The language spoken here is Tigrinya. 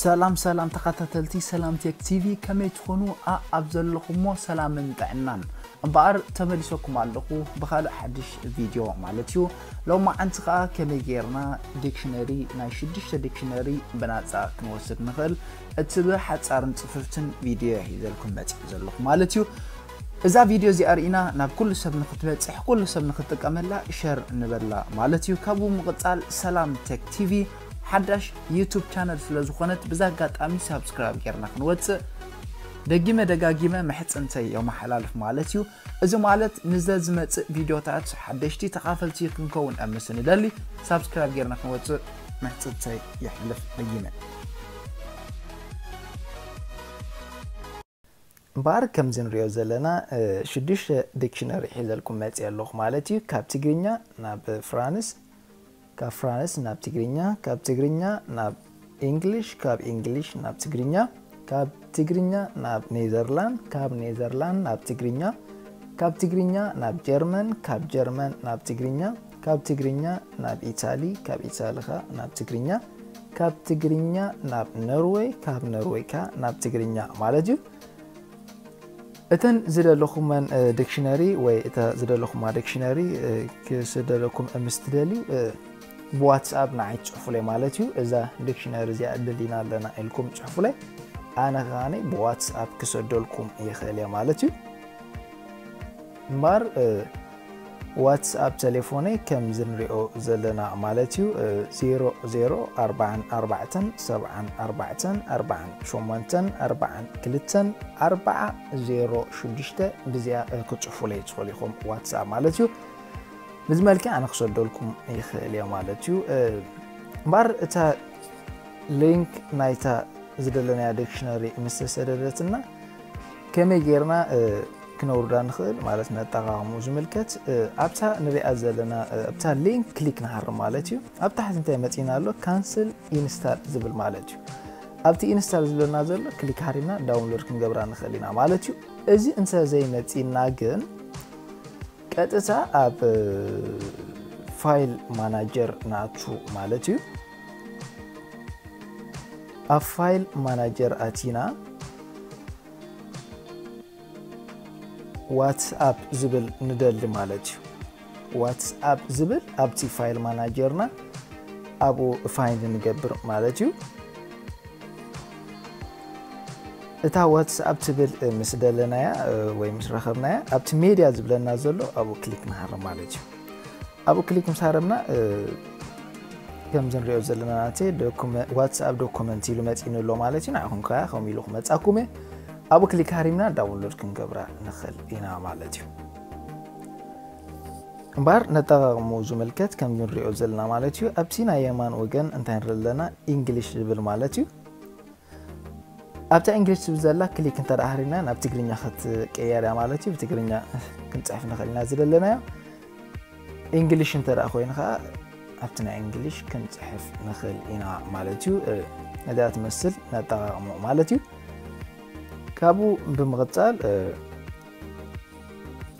ሰላም ሰላም ተኻታተልቲ ሰላም ቴክ ቲቪ ከመይ ትኾኑ ኣኣብ ዘለኹሞ ሰላምን ጥዕናን እምበኣር ተመሊሰኩም ኣለኹ ብኻልእ ሓድሽ ቪድዮ ማለት እዩ ሎማዓንቲ ከኣ ከመይ ጌርና ዲክሽነሪ ናይ ሽዱሽተ ዲክሽነሪ ብናጻ ክንወስድ ንኽእል እትብ ሓጻርን ጽፍፍትን ቪድዮ ሒዘልኩም መጺእ ዘለኹ ማለት እዩ እዛ ቪድዮ እዚኣ ርኢና ናብ ኩሉ ሰብ ንክትበፅሕ ኩሉ ሰብ ንክጥቀመላ ሸር ንበላ ማለት እዩ ካብኡ ምቕፃል ሰላም ቴክ ቲቪ ሓዳሽ ዩቱብ ቻነል ስለ ዝኾነት ብዚ ኣጋጣሚ ሳብስክራይብ ጌርና ክንወጽእ ደጊመ ደጋጊመ ምሕጽንተይ የማሓላልፍ ማለት እዩ እዚ ማለት ንዘዝመጽእ ቪድዮታት ሓደሽቲ ተኻፈልቲ ክንከውን እብ ምስ ንደሊ ሳብስክራይብ ጌርና ክንወጽእ ምሕጽንተይ የሕልፍ ደጊመ። እምበኣር ከምዚ ንሪኦ ዘለና ሽዱሽተ ዲክሽነሪ ሒዘልኩም መጺኤ ኣለኹ ማለት እዩ። ካብ ትግርኛ ናብ ፍራንስ፣ ካብ ፍራንስ ናብ ትግርኛ፣ ካብ ትግርኛ ናብ ኢንግሊሽ፣ ካብ ኢንግሊሽ ናብ ትግርኛ፣ ካብ ትግርኛ ናብ ኔዘርላንድ፣ ካብ ኔዘርላንድ ናብ ትግርኛ፣ ካብ ትግርኛ ናብ ጀርመን፣ ካብ ጀርመን ናብ ትግርኛ፣ ካብ ትግርኛ ናብ ኢታሊ ካብ ኢታሊ ከኣ ናብ ትግርኛ ካብ ትግርኛ ናብ ኖርወይ ካብ ኖርወይ ከኣ ናብ ትግርኛ ማለት እዩ እተን ዝደለኹመን ዲክሽነሪ ወይ እተ ዝደለኹማ ዲክሽነሪ ክስደለኩም ምስ ትደልዩ ብዋትስኣፕ ንዓይ ትፅሑፉለይ ማለት እዩ እዛ ዲክሽነሪ እዚኣ ደሊና ኣለና ኢልኩም ፅሑፉለይ ኣነ ከዓኒ ብዋትስኣፕ ክሰደልኩም ይኽእል እየ ማለት እዩ እምባር ዋትስ ኣብ ተሌፎነይ ከምዚ ንሪኦ ዘለና ማለት እዩ ዜሮ ዜሮ ኣርባዓን ኣርባዕተን ሰብዓን ኣርባዕተን ኣርባዓን ሸሞንተን ኣርባዓን ክልተን ኣርባዓ ዜሮ ሽዱሽተ ብዚኣ ክፅሑፉለይ ትኽእሉ ኢኹም ዋትስኣፕ ማለት እዩ ብዚ መልክዕ ኣነ ክሰደልኩም ይኽእል እየ ማለት እዩ እምበር እታ ሊንክ ናይታ ዝደለናያ ዲክሽነሪ ምስ ተሰደደትና ከመይ ጌርና ክነውርዳ ንኽእል ማለት ነጠቓቕሙ ዝምልከት ኣብታ ንሪኣ ዘለና ኣብታ ሊንክ ክሊክ ንሃርም ማለት እዩ ኣብ ታሕቲ እንታይ መፂና ኣሎ ካንስል ኢንስታል ዝብል ማለት እዩ ኣብቲ ኢንስታል ዝብለና ዘሎ ክሊክ ሃሪምና ዳውንሎድ ክንገብራ ንኽእል ኢና ማለት እዩ እዚ እንተ ዘይመፂና ግን ቀጥታ ኣብ ፋይል ማናጀር ናቱ ማለት እዩ ኣብ ፋይል ማናጀር ኣቲና ዋትስኣፕ ዝብል ንደሊ ማለት እዩ ዋትስኣፕ ዝብል ኣብቲ ፋይል ማናጀርና ኣብኡ ፋይንድ ንገብር ማለት እዩ እታ ዋትስኣፕ ትብል ምስ ደለናያ ወይ ምስ ረኸብናያ ኣብቲ ሜድያ ዝብለና ዘሎ ኣብኡ ክሊክ ንሃር ማለት እዩ ኣብኡ ክሊክ ምስ ሃረምና ከምዚ ንሪኦ ዘለና ናተይ ዋትስኣፕ ዶኩመንት ኢሉ መፂኒ ኣሎ ማለት እዩ ንዓኹም ከ ከምኡ ኢሉ ክመፃኩም እየ ኣብኡ ክሊክ ሃሪምና ዳውንሎድ ክንገብራ ንኽእል ኢና ማለት እዩ እምበኣር ነጠቃቕሙ ዝምልከት ከም ንሪኦ ዘለና ማለት እዩ ኣብቲ ናይ የማን ወገን እንታይ ንርኢ ኣለና ኢንግሊሽ ዝብል ማለት እዩ ኣብታ English ትብል ዘላ ክሊክ እንተ ሃሪና ናብ ትግርኛ ክትቀየር እያ ማለት እዩ ብትግርኛ ክንጽሕፍ ንኽእል ኢና ዝደለናዮ English እንተ ኮይኑ ከዓ ኣብቲ ናይ English ክንጽሕፍ ንኽእል ኢና ማለት እዩ ነዚኣ ትመስል ነጠቃቅሞ ማለት እዩ ካብኡ ብምቕጻል